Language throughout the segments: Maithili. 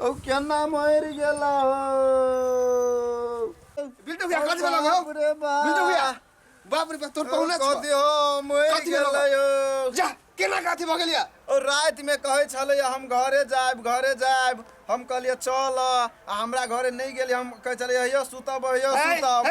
ओ केना मरि गेला हो बिल्टू भैया कथी भेल हो बाप रे बाप। बिल्टू भैया बाप रे बाप तोर पहुना छौ कथी हो मरि कथी भेलौ? गेलै हो जा केना काथी भऽ गेलिया ओ राति में कहै छलै हम घरे जायब घरे जायब हम कहलियै चल आ हमरा घरे नहि गेलियै हम कहै छलियै यौ सुतब यौ सुतब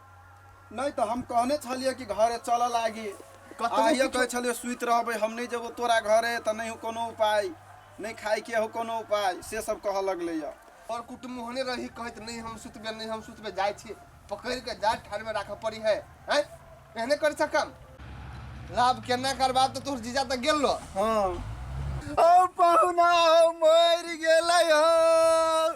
नहीं तो हम कहने छलिए कि घरे चल लागी आइए कहे छलिए सुत रहबे हम नहीं जब तोरा घरे तो नहीं हो कोनो उपाय नहीं खाई के हो कोनो उपाय से सब कह लगले या और कुटुम होने रही कहत नहीं हम सुतबे नहीं हम सुतबे जाय छी पकड़ के जा ठाड़ में राखऽ पड़ी है हैं एहने कर सकम लाभ केना करबा तो तोर जीजा तो गेल लो हाँ ओ पहुना मर गेलै हो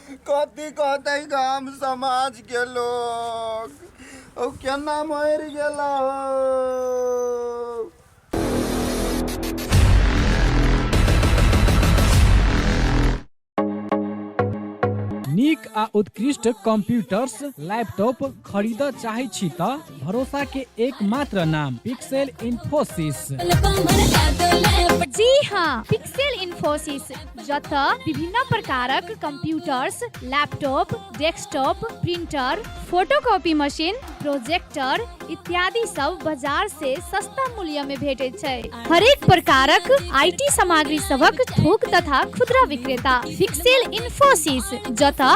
कथी कहते गाम समाज के लोग ओ केना मर गेला हो नीक आ उत्कृष्ट कंप्यूटर्स लैपटॉप खरीदऽ चाहै छी तऽ भरोसा के एकमात्र नाम पिक्सेल इन्फोसिस जी हाँ पिक्सेल इन्फोसिस जतऽ विभिन्न प्रकारक computers laptop desktop printer photocopy machine projector इत्यादि सब बाजार से सस्ता मूल्य में भेटे छै हरेक प्रकारक आईटी सामग्री सबक थोक तथा खुदरा विक्रेता पिक्सेल इन्फोसिस जतऽ